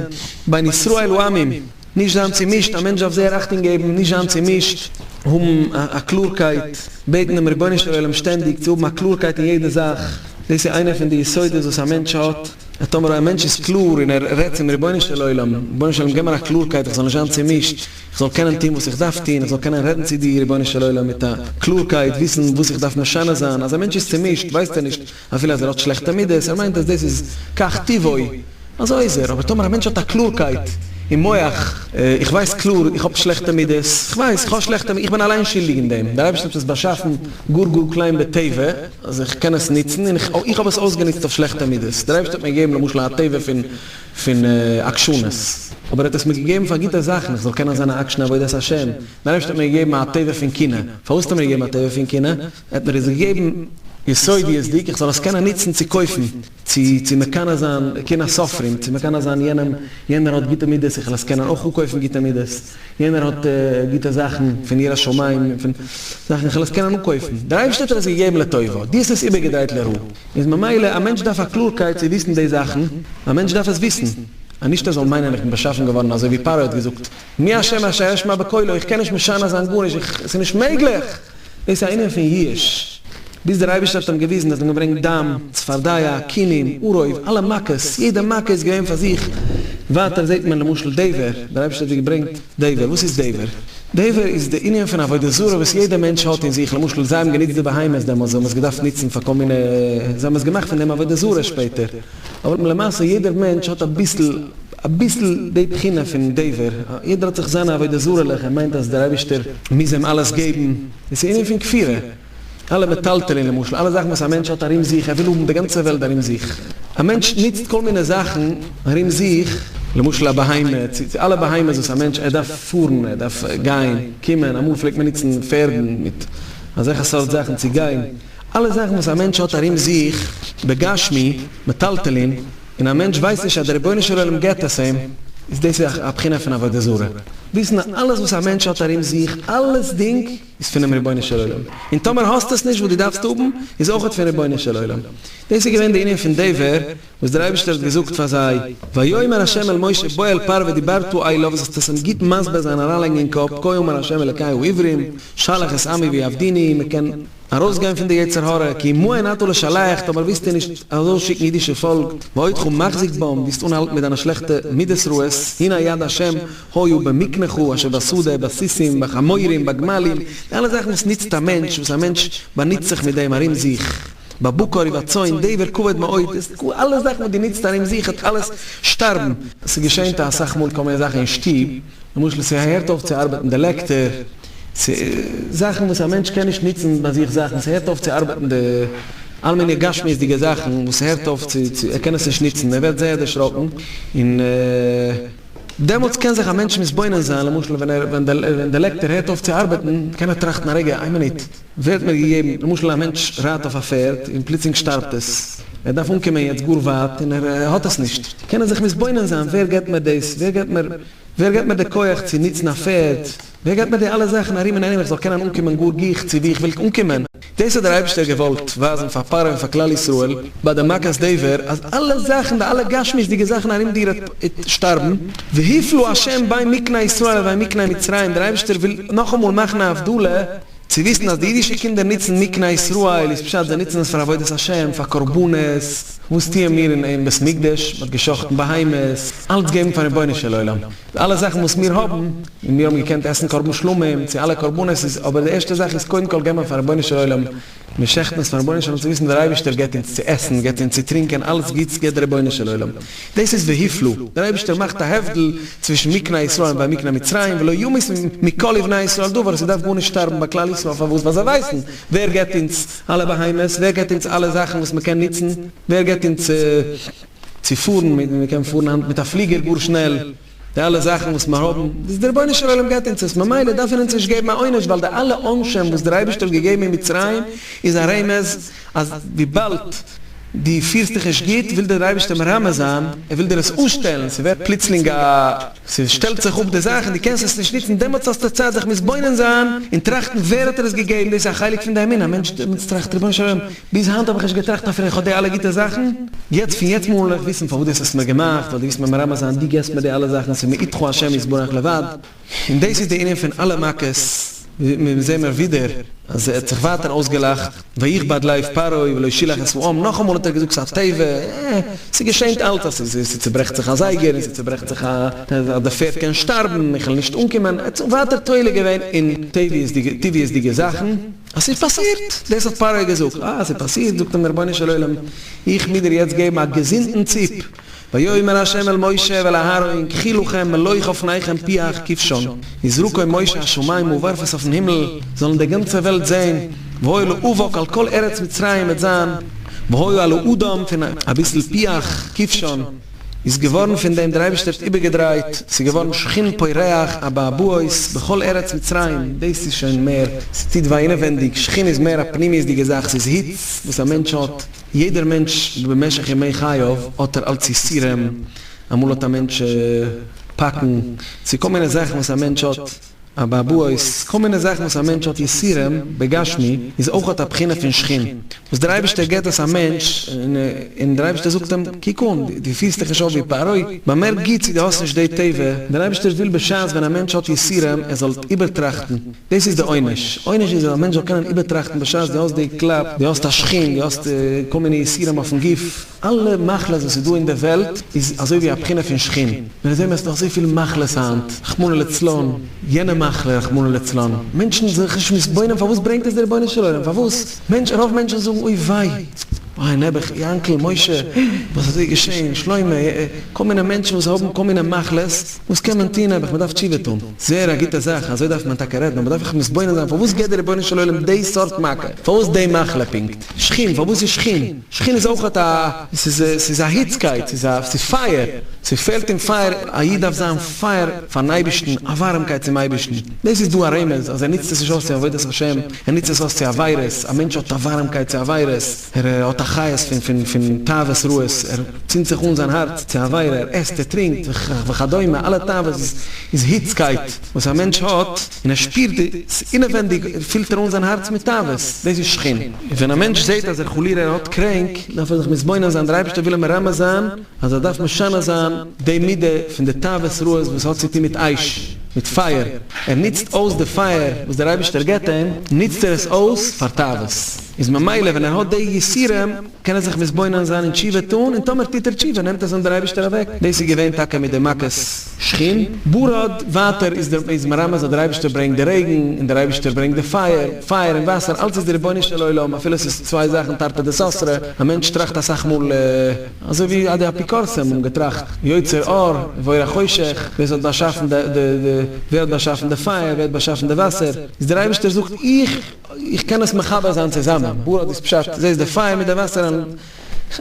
מיין ישראל הוא עמי, נישט זיין צומישט, א מענטש דארף זייער אכטונג געבן, נישט זיין צומישט, האבן א קלארקייט, בעטן דעם רבונו של עולם שטענדיג צו האבן א קלארקייט אין יעדע זאך, דאס איז איינער פון די יסודות וואס א מענטש האט. אז טאמער א מענטש איז קלאר און ער רעדט צום רבונו של עולם, רבונו של עולם גיב מיר א קלארקייט איך זאל נישט זיין צומישט, איך זאל קענען טון וואס איך דארף טון, איך זאל קענען רעדן צו דיר רבונו של עולם מיט א קלארקייט, וויסן וואס איך דארף משנה זיין, אז א מענטש איז צומישט ווייסט ער נישט אפילו אז ער האט שלעכטע מידות, ער מיינט אז דאס איז כך טבעו, אזוי איז ער, אבער טאמער א מענטש האט א קלארקייט אין מח, איך ווייס קלאר איך האב שלעכטע מידות, איך ווייס איך האב שלעכטע מידות, איך בין אליין שולדיג אין דעם, דער אייבערשטער האט עס באשאפן גאר גאר קליין בטבע, אז איך קען עס נוצן, און איך האב עס אויסגענוצט אויף שלעכטע מידות, דער אייבערשטער האט מיר געגעבן למשל א טבע פון עקשנות, אבער ער האט עס מיר געגעבן פאר גוטע זאכן, איך זאל קענען זיין א עקשן עבודת השם, דער אייבערשטער האט מיר געגעבן א טבע פון קנאה, פארוואס האט ער מיר געגעבן א טבע פון קנאה? ער האט מיר עס געגעבן יסודיות'דיג איך זאל עס קענען נוצן צו קויפן. צו צו מקנא זיין, קנאת סופרים, צו מקנא זיין יענעם, יענער האט גוטע מידות, איך וויל עס קענען אויך אנקויפן גוטע מידות, יענער האט גוטע זאכן פון יראת שמים און פון זאכן, איך וויל עס קענען אנקויפן, דער אייבערשטער האט דיר עס געגעבן לטובה, דו האסט עס איבערגעדרייט לרעה, איז ממילא א מענטש דארף א קלארקייט צו וויסן די זאכן, א מענטש דארף עס וויסן, נישט ער זאל מיינען איך בין באשאפן געווארן אזוי ווי פרעה האט געזאגט, מי אשם מה שאשמע בקולו, איך קען נישט משנה זיין גארנישט, איך, ס'איז נישט מעגליך! דאס איז א ענין פון יאוש. ביז דער אייבערשטער האט אים געוויזן, ער האט אים געברענגט דם, צפרדיה, כינים, עורב, אלע מכות, יעדע מכה איז געווען פאר זיך, ווייטער זעט מען למשל דבר, דער אייבערשטער האט דיר געברענגט דבר, וואס איז דבר? דבר איז די ענין פון עבודה זרה וואס יעדע מענטש האט אין זיך, למשל זיי האבן גענוצט די בהמות דעמאלס, זיי האבן עס געדארפט נוצן פאר כל מיני, זיי האבן עס געמאכט פון דעם עבודה זרה שפעטער, אבער למעשה יעדער מענטש האט אביסל אביסל די בחינה פון דבר, יעדער האט זיך זיינע עבודה זרה'לעך, ער מיינט אז דער אייבישטער מוז אים אלעס געבן, דאס איז ענין פון כפירה, אלע מטלטלין למשל, אלע זאכן וואס א מענטש האט ארום זיך, ער וויל האבן די גאנצע וועלט ארום זיך, א מענטש נוצט כל מיני זאכן ארום זיך, למשל א בהמה, צו אלע בהמות וואס א מענטש, ער דארף פארן, ער דארף גיין, קומען, אמאל פלעגט מען נוצן פערדן מיט אזעלכע סארט זאכן צו גיין, אלע זאכן וואס א מענטש האט ארום זיך, בגשמי, מטלטלין, און א מענטש ווייסט נישט אז דער רבונו של עולם געבט עס אים, איז דאס ווי א בחינה פון עבודה זרה, וויסן אז אלעס וואס א מענטש האט ארום זיך, אלעסדינג, איז פונעם רבונו של עולם, און טאמער האסט עס נישט וואס דו דארפסט האבן, איז אויכעט פון רבונו של עולם. דאס איז געווען די ענין פון די ווער וואס דער אייבערשטער האט געזאגט פאר זיי, ויאמר ה' אל משה בוא אל פרעה ודיברתו אליו, זאלסט עס אים גוט מסביר זיין און אריינלייגן אין קאפ, כה אמר ה' אלקי העברים, שלח את עמי ויעבדוני, מען קען. ארויסגיין פון די יצר הרע, כי עמו אין אתה לשלח, טאמער ווילסטו נישט ארויס שיקן אידישע פאלק, ואותך מחזיק בם, ווילסט אנהאלטן מיט דיינע שלעכטע מידות רעות, הנה יד ה', היו במקנך, אשר בשדה, בסוסים, בחמורים, בגמלים, די אלע זאכן וואס נוצט א מענטש, וואס א מענטש באנוצט זיך מיט דעם ארום זיך, בבקר ובצאן, דבר כבד מאוד, דאס ק, אלע זאכן וואס דו נוצט ארום זיך וועט אלעס שטארבן. ס'געשענט אסאך מאל טאמער איז זאך אין שטוב, למשל ס'הערט אויף צו ארבעטן די לעקטער, ס'איז זאכן וואס א מענטש קען נישט נוצן ביי זיך זאכן, ס'הערט אויף צו ארבעטן די אלע מיני גשמיות'דיגע זאכן וואס ס'הערט אויף צו צו ער קען עס נישט נוצן ער ווערט זייער דערשראקן און דעמאלטס קען זיך א מענטש מתבונן זיין למשל ווען ער ווען ווען די לעקטער הערט אויף צו ארבעטן קען ער טראכטן א רגע איין מינוט ווערט מיר געגעבן למשל א מענטש רייט אויף א פערד און פלוצלינג שטארבט עס ער דארף אנקומען יעצט גאר ווייט און ער האט עס נישט קען ער זיך מתבונן זיין ווער געבט מיר דאס ווער געבט מיר ווער געבט מיר די כח צו נוצן א פערד ווער געט מיר די אלע זאכן ארום און ארום איך זאל קענען אנקומען גאר גיך צו ווי איך וויל אנקומען? דאס האט דער אייבערשטער געוואלט ווייזן פאר פרעה און פאר כלל ישראל ביי די מכת דבר אז אלע זאכן די אלע גשמיות'דיגע זאכן ארום דיר איז שטארבן, והפלו ה' בין מקני ישראל לבין מקני מצרים, דער אייבערשטער וויל נאכאמאל מאכן א הבדלה צו וויסן אז די אידישע קינדער נוצן מקני ישראל איז פשט זיי נוצן עס פאר עבודת השם פאר קרבנות, וואס טוען מיר אין בית מקדש? מען האט גע'שחט'ן בהמות, אלץ געבן פאר רבונו של עולם. די אלע זאכן וואס מיר האבן, און מיר האבן געקענט עסן קרבן שלמים, צו אלע קרבנות איז, אבער די ערשטע זאך איז קודם כל געבן פאר רבונו של עולם, מיר שעכטן עס פאר רבונו של עולם צו וויסן דער אייבערשטער געבט אונז צו עסן, געבט אונז צו טרינקען, אלעס גוטס געבט דער רבונו של עולם. דאס איז והיפלא, דער אייבערשטער מאכט א הבדל צווישן מקנה ישראל און ויקנה מצרים, ולא ימות מכל לבני ישראל דבר, ס'דארף גארנישט שטארבן ביי כלל ישראל, פארוואס? ווייל זיי ווייסן ווער געבט אונז אלע בהמות, ווער געבט אונז אלע זאכן וואס מ'קען נוצן, ווער געבט אונז. צו פארן, מען קען פארן היינט מיט א פליגער גאר שנעל, די אלע זאכן וואס מיר האבן, דאס דער רבונו של עולם געבט אונז עס, ממילא דארף ער אונז נישט געבן א עונש, ווייל די אלע עונשים וואס דער אייבערשטער האט געגעבן אין מצרים איז א רמז, אז וויבאלד דו פירסט דיך נישט גוט, וויל דיר דער אייבערשטער מרמז זיין, ער וויל דיר עס אנשטעלן, ס'ווערט פלוצלינג א, ס'שטעלט זיך אפ די זאך און דו קענסט עס נישט נוצן, דעמאלטס האסטו צייט זיך מתבונן זיין און טראכטן ווער האט דיר עס געגעבן, דאס איז א חלק פון די אמונה, א מענטש דעמאלטס טראכט, רבונו של עולם, ביז היינט האב איך נישט געטראכט אפילו איך האב די אלע גוטע זאכן, יעצט פון יעצט מאל וועל איך וויסן פארוואס דו האסט עס מיר געמאכט, ווייל דו ווילסט מיר מרמז זיין דו געבסט מיר די אלע זאכן ס'איז מאיתך השם יתברך לבד, און דאס איז די ענין פון אלע מכות, מיר זעמער ווידער אז ער האט זיך ווייטער אויסגעלאכט, ויכבד לב פרעה ולא שילח את פרעם, נאכאמאל האט ער געזאגט ס'איז א טבע, אה, ס'געשענט אלץ אז ס'צוברעכט זיך א זייגער און ס'צוברעכט זיך א, אז די פערד קען שטארבן, איך וועל נישט אנקומען, ער האט זיך ווייטער תולה געווען אין טבעיות'דיגע זאכן. אז ס'איז פאסירט, דאס האט פרעה געזאגט, אה, ס'איז פאסירט, זאגט אים דער רבונו של עולם, איך מוז דיר יעצט געבן א געזונטן ציפ, ויאמר ה' אל משה ואל אהרן, קחי לכם מלוך אופניכם פיח כבשן, יזרקו משה השמים וווארף עס אויפן הימל, זאלן די גאנצע וועלט זען, והיה לאבק על כל ארץ מצרים וועט זיין, והיה על האדם פון אביסל פיח כבשן. איז געווארן פון דעם דער אייבערשטער האט איבערגעדרייט, ס'איז געווארן שחין פורח, אבעבועות, בכל ארץ מצרים, דאס איז שוין מער, ס'טוט וויי אינעווענדיג, שחין איז מער א פנימיות'דיגע זאך, ס'איז היץ וואס א מענטש האט, יעדער מענטש במשך ימי חייו האט ער אלץ יסורים, אמאל האט א מענטש פאקן, ס'איז כל מיני זאכן וואס א מענטש האט, אבעבועות, כל מיני זאכן וואס א מענטש האט יסורים בגשמי, איז אויך אט א בחינה פון שכין, וואס דער אייבערשטער גיבט דאס א מענטש, און דער אייבערשטער זאגט אים, קוק אן, דו פירסט דיך נישט אויף ווי פרעה, באמערק גוט צו דו האסט נישט די טבע, דער אייבערשטער וויל בשעת ווען א מענטש האט יסורים ער זאל איבערטראכטן, דאס איז די עונש, עונש איז אז א מענטש זאל קענען איבערטראכטן בשעת דו האסט די קלאפ, דו האסט א שכין, דו האסט כל מיני יסורים אויפן גוף. אלע מחלות וואס איז דא אין די וועלט איז אזוי ווי א בחינה פון שחין, מיר זעהן אז נאך אזוי פיל מחלות היינט, רחמנא לצלן, יענע מחלה רחמנא לצלן, מענטשן זענען זיך נישט מתבונן פארוואס ברענגט עס די רבונו של עולם, פארוואס, מענטש, רוב מענטשן זאגן אוי וויי, אוי נעבעך, יענקל, משה, וואס אזוי געשעהן, שלמה, כל מיני מענטשן וואס האבן כל מיני מחלות, וואס קען מען טוהן, נעבעך, מען דארף תשובה טוהן, זעהר א גוטע זאך, אזוי דארף מען טאקע רעדן, אבער דארף איך מתבונן זיין פארוואס געבט די רבונו של עולם די סארט מכה, פארוואס די מחלה פונקט, שחין, פארוואס איז שחין? שכינה איז אויך א, ס'איז א היצקייט, ס'איז פייער, ס'פעלט אין פייער, א איד דארף זיין פייער פארן אייבערשטן, א ווארעמקייט צום אייבערשטן, דאס איז דא א רמז אז ער נוצט עס נישט אויס צו עבודת השם, ער נוצט עס אויס צו עבירות, א מענטש האט א ווארעמקייט צו עבירות, ער האט א חיות פון תאוות רעות, ער צינדט זיך אן זיין הארץ צו עבירה, ער עסט, ער טרינקט, וכדומה, אלע תאוות איז היצקייט וואס א מענטש האט. און ער שפירט די ס'אינעווענדיג און פילט ער אן זיין הארץ מיט תאוות, דאס איז שכין. און ווען א מענטש זעהט אז ער חלילה ער האט קרענק, דארף ער זיך מתבונן זיין, דער אייבערשטער וויל אים מרמז זיין אז ער דארף משנה זיין די מידה פון די תאוות רעות וואס האט צו טון מיט אש, מיט פייער, ער נוצט אויס די פייער וואס דער אייבערשטער געבט אים, נוצט ער עס אויס פאר תאוות, איז ממילא ווען ער האט די יסורים, קען ער זיך מתבונן זיין און תשובה טאן, און טאמער טוט ער תשובה נעמט עס אן דער אייבערשטער אוועק, דאס איז געווען טאקע מיט די מכת שחין, ברד, ווייטער איז דער איז מרמז אז דער אייבערשטער ברענגט די רעגן, און דער אייבערשטער ברענגט די פייער, פייער און וואסער, אלץ איז די רבונו של עולם, אפילו עס איז צוויי זאכן תרתי דסתרי, א מענטש טראכט אסאך מאל אזוי ווי די אפיקורסים האבן געטראכט, יוצר אור ובורא חושך, ווער עס האט באשאפן די די די ווער האט באשאפן די פייער, ווער האט באשאפן די וואסער, איז דער אייבערשטער זאגט איך. איך קען עס מחבר זיין צוזאמען, בא האט עס פשט, זעסט די פייער מיט די וואסער און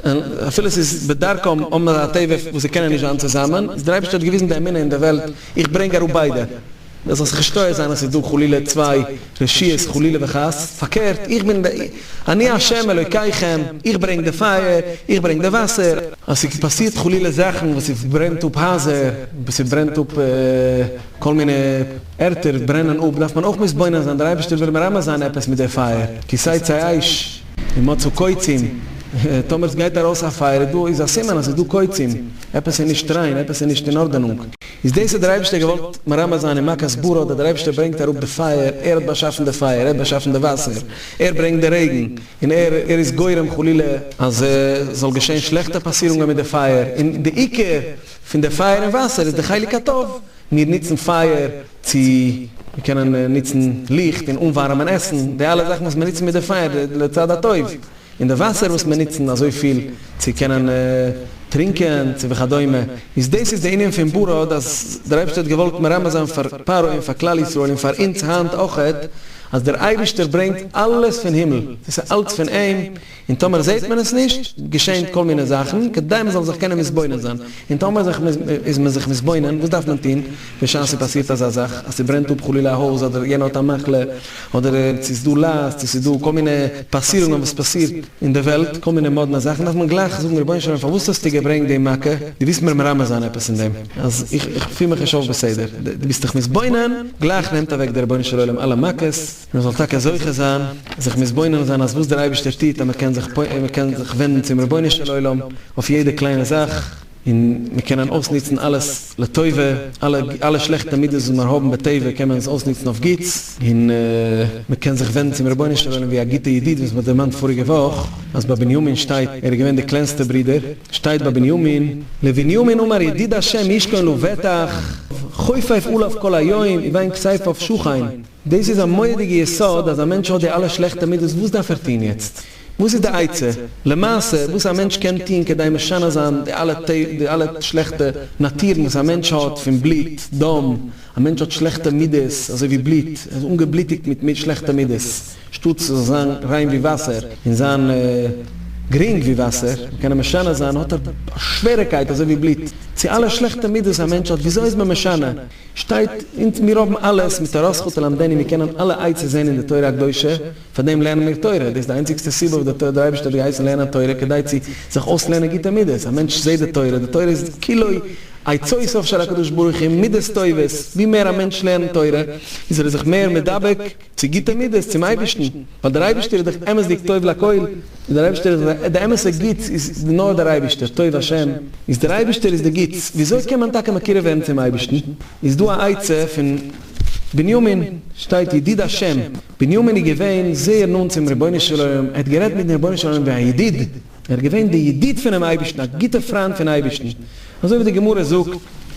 און אפילו עס איז בדרכם האבן זיי א טבע וואס זיי קענען נישט זיין צוזאמען, איז דער אייבערשטער האט געוויזן די אמונה אין די וועלט, איך ברענג אראפ ביידע, דאס זאל זיך נישט טועה זיין אז עס איז דא חלילה צוויי רשעות חלילה וחס, פארקערט, איך בין די, אני השם אלוקיכם, איך ברענג די פייער, איך ברענג די וואסער. אז עס איז פאסירט חלילה זאכן וואס עס ברענט אפ הייזער, וואס עס ברענט אפ כל מיני. ערטער ברענען אפ דארף מען אויך מתבונן זיין, דער אייבערשטער וויל מרמז זיין עפעס מיט די פייער, כי שצי אש ומצאו קוצים, טאמער עס גייט ארויס א פייער איז דא איז א סימן אז עס איז דא קוצים, עפעס איז נישט ריין, עפעס איז נישט אין ארדענונג. איז דאס האט דער אייבערשטער געוואלט מרמז זיין, אין מכת ברא האט דער אייבערשטער ברענגט אראפ די פייער, ער האט באשאפן די פייער, ער האט באשאפן די וואסער, ער ברענגט די רעגן, און ער ער איז גורם חלילה אז עס זאל געשען שלעכטע פאסירונגען מיט די פייער, און די עיקר פון די פייער און וואסער איז די חלק הטוב, מיר נוצן פייער צו מיר קענען נוצן ליכט און אנווארעמען עסן, די אלע זאכן וואס מיר נוצן מיט די פייער לצד הטוב, און די וואסער וואס מיר נוצן אזויפיל צו קענען טרינקען צו וכדומה, איז דאס איז די ענין פון ברד אז דער אייבערשטער האט געוואלט מרמז זיין פאר פרעה און פאר כלל ישראל און פאר אונז היינט אויכעט אז דער אייבערשטער ברענגט אלעס פון הימל, עס איז אלץ פון אים, און טאמער זעהט מען עס נישט, געשעהן כל מיני זאכן, כדי מען זאל זיך קענען מתבונן זיין, און טאמער זיך איז מען זיך מתבונן, וואס דארף מען טוהן בשעת ס'פאסירט אזא זאך, אז ס'ברענט אפ חלילה א הויז, אדער יענער האט א מחלה, אדער צו ס'איז דא לייז, צו ס'איז דא כל מיני פאסירונגען וואס פאסירט אין די וועלט, כל מיני מאדנע זאכן, דארף מען גלייך זאגן רבונו של עולם פארוואס האסטו געברענגט די מכה, דו ווילסט מיר מרמז זיין עפעס אין דעם, אז איך פיל מיך נישט אויף בסדר, דו ביסט דיך מתבונן, גלייך נעמט אוועק דער רבונו של עולם אלע מכות. מען זאל טאקע זוכה זיין זיך מתבונן זיין אז וואס דער אייבערשטער טוט אז מען קען זיך מען קען זיך ווענדן צום רבונו של עולם אויף יעדע קליינע זאך און מען קען אויסנוצן אלעס לטובה, אלע אלע שלעכטע מידות וואס מיר האבן בטבע קען מען עס אויסנוצן אויף גוטס, און מען קען זיך ווענדן צום רבונו של עולם ווי א גוטע ידיד וואס מען האט דערמאנט פאריגע וואך אז ביי בנימין שטייט ער איז געווען די קלענסטע ברודער שטייט ביי בנימין לבנימין אמר ידיד ה' ישכון לבטח חופף עליו כל היום וביין כסייפה אויף שוכן. דאס איז א מורא'דיגע יסוד אז א מענטש האט די אלע שלעכטע מידות וואס דארף ער טוהן יעצט? וואס איז די עצה למעשה וואס א מענטש קען טוהן כדי משנה זיין די אלע די אלע שלעכטע נאטורן וואס א מענטש האט פון בלוט, דם, א מענטש האט שלעכטע מידות אזוי ווי בלוט, ער איז אנגעבלוטיגט מיט מיט שלעכטע מידות, שטאט ס'זאל זיין ריין ווי וואסער און זיין גרינג ווי וואסער און קענען משנה זיין האט ער שווערעקייט אזוי ווי בלוט, צו אלע שלעכטע מידות א מענטש האט וויאזוי איז מען משנה? שטייט, אונז מיר האבן אלעס, מיט תורה זכות ללמדני, מיר קענען אלע עצות זען אין די תורה הקדושה, פארדעם לערנען מיר תורה, דאס איז די איינציגסטע סיבה וואס דער אייבערשטער האט געהייסן לערנען תורה כדי צו זיך אויסלערנען גוטע מידות, א מענטש זעט די תורה, די תורה איז כולו עצותיו של הקדוש ברוך הוא, מידות טובות, ווי מער א מענטש לערנט תורה, איז ער זיך מער מדבק, צו גוטע מידות צום אייבערשטן, ווייל דער אייבערשטער איז דאך אמת'דיג טוב לכל, און דער אייבערשטער איז דאך די אמת'ע גוטס איז נאר דער אייבערשטער, טוב השם, איז דער אייבערשטער איז די גוטס, ווי אזוי קען מען טאקע מקורב ווערן צום אייבערשטן, איז דא א עצה פון בנימין, שטייט ידיד השם, בנימין איז געווען זייער נאנט צום רבונו של עולם, ער האט גערעדט מיטן רבונו של עולם ווי א ידיד, ער איז געווען די ידיד פונעם אייבערשטן, א גוטע פריינד פון אייבערשטן, אזוי ווי די גמרא זאגט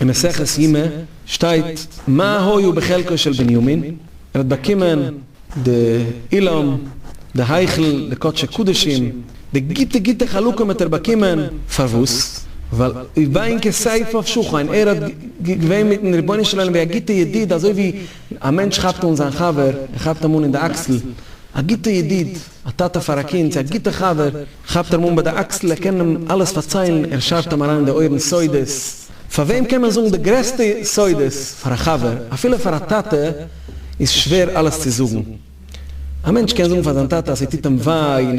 אין מסכת יומא, שטייט מה היה בחלקו של בנימין, ער האט באקומען די אולם, די היכל, די קדשי קדשים, די גוטע גוטע חלקים האט ער באקומען, פארוואס? ווייל וביין כסייפה אויף שוכן, ער האט געווען מיטן רבונו של עולם ווי א גוטע ידיד, אזוי ווי א מענטש כאפט אן זיין חבר, ער כאפט אים אן אין די אקסל, א גוטע ידיד, א טאטע פאר א קינד, צו א גוטע חבר, כאפט ער אים אן ביי די אקסל, ער קען אים אלעס פארציילן, ער שארט אים אריין אין די אויערן סודות, פאר וועם קען מען זאגן די גרעסטע סודות? פאר א חבר, אפילו פאר א טאטע איז שווער אלעס צו זאגן, א מענטש קען זאגן פאר זיין טאטע אז ס'טוט אים וויי, און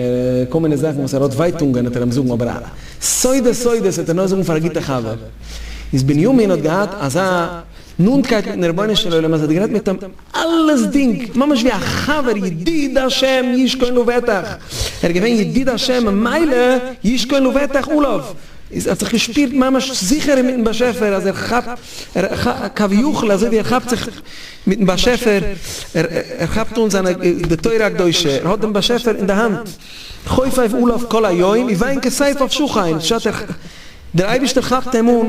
כל מיני זאכן וואס ער האט ווייטונגען וועט ער אים זאגן, אבער א סודות סודות וועט ער נאר זאגן פאר א גוטע חבר, איז בנימין האט געהאט אזא. נאנטקייט מיטן רבונו של עולם אז ער האט גערעדט מיט אים אלעס דינג ממש ווי א חבר ידיד השם ישכון לבטח ער איז געווען ידיד השם ממילא ישכון לבטח עליו איז ער האט זיך געשפירט ממש זיכערער מיטן באשעפער אז ער כאפט כביכול אזוי ווי ער כאפט זיך מיטן באשעפער ער כאפט אן זיינע די תורה הקדושה ער האט דעם באשעפער אין די האנט חופף עליו כל היום ווי וויין כסייף אויף שחין בשעת ער דער אייבערשטער כאפט אים אן.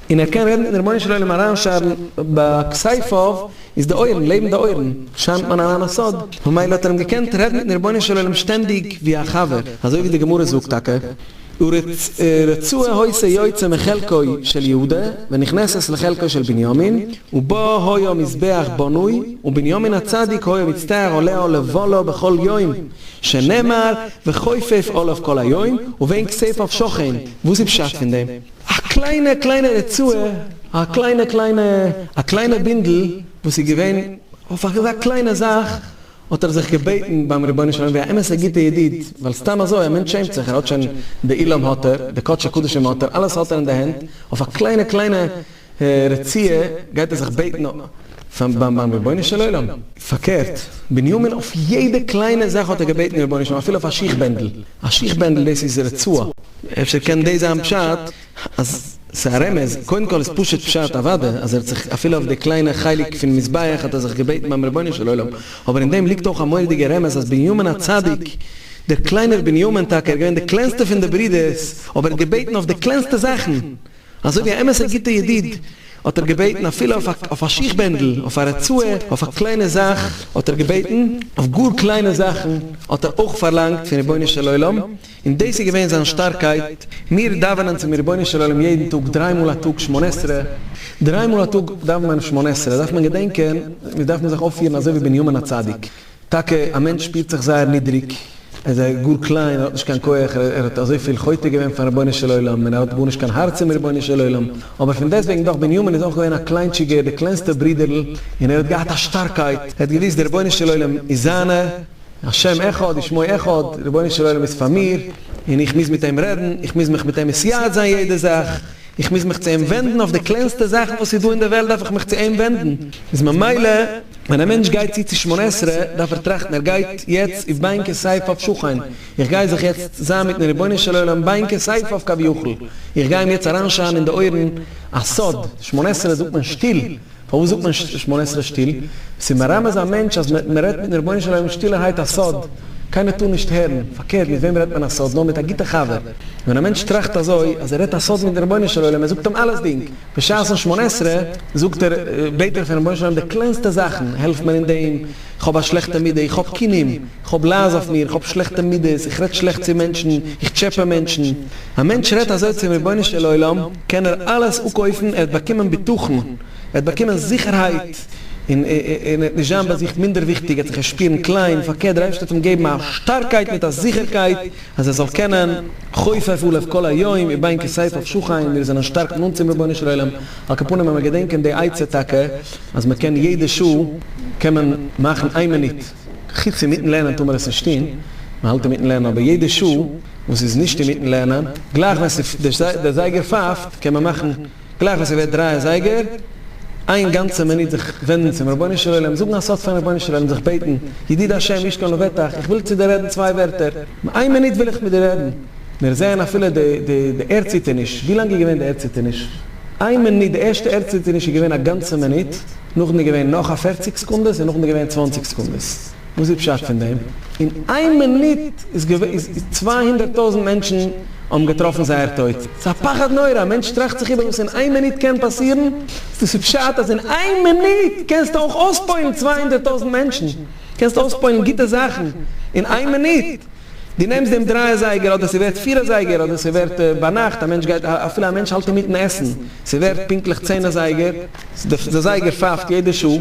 און ער קען רעדן און די רבונו של עולם אריינשארן בכסייפאוו איז די אויערן לעבן די אויערן שיינט מען אריין א סוד ממילא האט ער אים געקענט רעדן מיטן רבונו של עולם שטענדיג ווי א חבר אזוי ווי די גמרא זאגט טאקע ורצוה העושה יוצא מחלקו של יהודה ונכנסת לחלקו של בנימין ובו היה מזבח בנוי ובנימין הצדיק היה מצטער עולה עולה ועולה בכל יום שנאמר וחופף עליו כל היום ובין כסייפאוו שוכן וואס איז פשט פון דעם? א קליינע קליינע רצועה, א קליינע קליינע, א קליינע בינדל וואס איז געווען אויף אזא קליינע זאך, האט ער זיך געבעטן ביים רבונו של עולם ווי א אמת'ע גוטע ידיד, ווייל סתם אזוי, א מענטש שעמט זיך, ער האט שוין די עילום האט ער, די קדשי קדשים האט ער, אלעס האט ער אין די הענט, אויף א קליינע קליינע רצועה גייט ער זיך בעטן, פאר ביים רבונו של עולם. פארקערט, בנימין אויף יעדע קליינע זאך האט ער געבעטן דעם רבונו של עולם, אפילו אויף א שיך בענדל, א שיך בענדל דאס איז רצועה, אפשר קען דאס זיין פשט אז ס'איז א רמז, קודם כל איז פשוט פשט אוודאי אז ער האט זיך אפילו אויף די קליינע חלק פון מזבח האט ער זיך געבעטן ביים רבונו של עולם, אבער אין דעם ליגט אויך א מורא'דיגע רמז אז בנימין הצדיק, דער קליינער בנימין טאקע, ער איז געווען די קלענסטע פון די ברידערס, אבער ער האט געבעטן אויף די קלענסטע זאכן, אזוי ווי א אמת'ע גוטע ידיד האט ער געבעטן אפילו אויף א שיך בענדל, אויף א רצועה, אויף א קליינע זאך האט ער געבעטן, אויף גאר קליינע זאכן האט ער אויך פארלאנגט פון רבונו של עולם, און דאס איז געווען זיין שטארקייט, מיר דאווענען צום רבונו של עולם יעדן טאג דריי מאל א טאג שמונה עשרה, דריי מאל א טאג דאווענט מען שמונה עשרה, דארף מען געדענקען, מיר דארפן זיך אויפפירן אזוי ווי בנימין הצדיק, טאקע א מענטש שפירט זיך זייער נידריג, ער איז גאר קליין, ער האט נישט קיין כח, ער האט אזויפיל חוטא געווען פארן רבונו של עולם, און ער האט גארנישט קיין הארץ צום רבונו של עולם, אבער פון דעסטוועגן דאך בנימין איז אויך געווען א קליינטשיגער, די קלענסטע ברידער'ל, און ער האט געהאט א שטארקייט, ער האט געוויסט דער רבונו של עולם איז זיינע, השם אחד ושמו אחד, דער רבונו של עולם איז פאר מיר, און איך מוז מיט אים רעדן, איך מוז מיך מיט אים מסייעת' זיין יעדע זאך, איך מוז מיך צו אים ווענדן, אויף די קלענסטע זאכן וואס איז דא אין די וועלט דארף איך מיך צו אים ווענדן, איז ממילא. ווען א מענטש גייט צו צו שמונה עשרה דארף ער טראכטן ער גייט יעצט איז ביין כסייף אויף שכן, איך גיי זיך יעצט זיין מיטן רבונו של עולם ביין כסייף אויף כביכול, איך גיי אים יעצט אריינשארן אין די אויערן א סוד, שמונה עשרה זאגט מען שטיל, פארוואס זאגט מען שמונה עשרה שטיל? ס'איז מרמז א מענטש אז מען רעדט מיטן רבונו של עולם שטילערהייט א סוד, קיינער טאר נישט הערן, פארקערט מיט וועם רעדט מען א סוד נאר מיט א גוטע חבר, ווען א מענטש טראכט אזוי אז ער רעדט א סוד מיטן רבונו של עולם ער זאגט אים אלעסדינג, בשעת'ן שמונה עשרה זאגט ער, בעט ער פונעם בוישן עולם די קלענסטע זאכן, העלף מיר אין דעם, איך האב א שלעכטע מידה, איך האב קינאים, איך האב לייז אויף מיר, איך האב שלעכטע מידות, איך רעד שלעכט צו מענטשן, איך טשעפע מענטשן. א מענטש רעדט אזוי צום רבונו של עולם, קען ער אלעס אפקויפן, ער וועט באקומען בטחון, ער וועט באקומען זיכערהייט, און ער וועט נישט זיין ביי זיך מינדערוויכטיג, ער וועט זיך נישט שפירן קליין, פארקערט דער אייבערשטער וועט אים געבן א שטארקייט מיט א זיכערקייט, אז ער זאל קענען חופף עליו כל היום ובין כסייפה אויף שוכיין, מיר זענען שטארק נאנט צום רבונו של עולם, על כל פנים ווען מען געדענקט אין די עצה טאקע אז מען קען יעדע שעה קען מען מאכן איין מינוט, חוץ אינמיטן לערנען טאר מען עס נישט טון, מען האלט אינמיטן לערנען, אבער יעדע שעה וואס איז נישט אינמיטן לערנען, גלייך ווען דער זייגער פייפט, קען מען מאכן. גלייך ווען ס'ווערט דריי אזייגער, איין גאנצע מינוט זיך ווענדן צום רבונו של עולם, זאגן א סוד פארן רבונו של עולם, זיך בעטן, ידיד ה' איש קל ובטח, איך וויל צו דיר רעדן צוויי ווערטער, איין מינוט וויל איך מיט דיר רעדן, מיר זעען אפילו די די די ערדציטערניש, ווי לאנג איז געווען די ערדציטערניש? איין מינוט, די ערשטע ערדציטערניש איז געווען א גאנצע מינוט, נאכדעם איז געווען נאך א פערציג סעקונדעס און נאכדעם איז געווען צוואנציג סעקונדעס. וואס איז פשט פון דעם? אין איין מינוט איז געווען איז צוויי הונדערט טויזנט מענטשן האבן געטראפן זייער טויט, ס'איז א פחד נורא, א מענטש טראכט זיך איבער וואס אין איין מינוט קען פאסירן, איז דאס א פשט אז אין איין מינוט קענסטו אויך אויספוילן צוויי הונדערט טויזנט מענטשן, קענסטו אויספוילן גוטע זאכן אין איין מינוט? דו נעמסט דעם דריי אזייגער אדער ס'ווערט פיר אזייגער אדער ס'ווערט ביינאכט א מענטש גייט אפילו א מענטש האלט אינמיטן עסן ס'ווערט פונקטליך צען אזייגער די זייגער פייפט יעדע שעה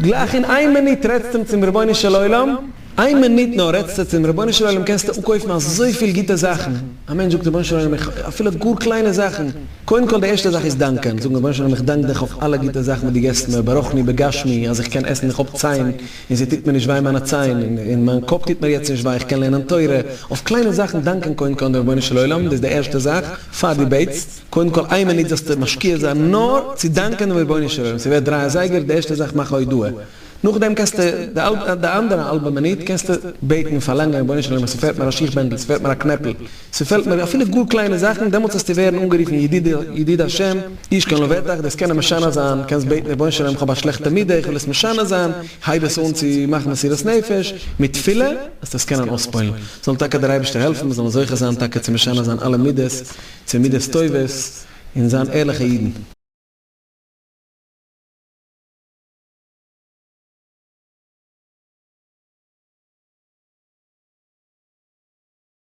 גלייך אין איין מינוט רעדסטו צום רבונו של עולם איין מינוט נאר רעדסטו צום רבונו של עולם קענסטו אפקויפן אזויפיל גוטע זאכן א מענטש זאגט רבונו של עולם איך אפילו גאר קליינע זאכן קודם כל די ערשטע זאך איז דאנקען זאגן רבונו של עולם איך דאנק דיך אויף אלע גוטע זאכן וואס דו געסט מיר ברויכני בגשמי אז איך קען עסן איך האב ציין און סע טוט מיר נישט וויי מיינע ציין, און מיין קאפ טוט מיר יעצט נישט וויי, איך קען לערנען תורה, אויף קליינע זאכן דאנקען קודם כל דעם רבונו של עולם, דאס די ערשטע זאך, פאר די בעטסט, קודם כל איין מינוט זאלסטו משקיע זיין נאר צו דאנקען דעם רבונו של עולם, ס'ווערט דריי אזייגער, די ערשטע זאך מאך א הודאה, נאכדעם קענסטו די אנדערע האלבע מינוט קענסטו בעטן און פארלאנגען, רבונו של עולם עס פעלט מיר א שיך בענדל, עס פעלט מיר א קנעפל, ס'פעלט מיר אפילו גאר קליינע זאכן, דעמאלטס וועסטו ווערן אנגערופן ידידי, ידיד השם, איש כן לבטח, דאס קענען משנה זיין, קענסט בעטן רבונו של עולם איך האב א שלעכטע מידה, איך וויל עס משנה זיין, הייב עס אן צו מאכן מסירות נפש, מיט תפילה וועסטו עס קענען אויספועל'ן. זאל טאקע דער אייבערשטער העלפן מיר זאלן זוכה זיין טאקע צו משנה זיין אלע מידות צו מידות טובות, און זיין ערליכע אידן.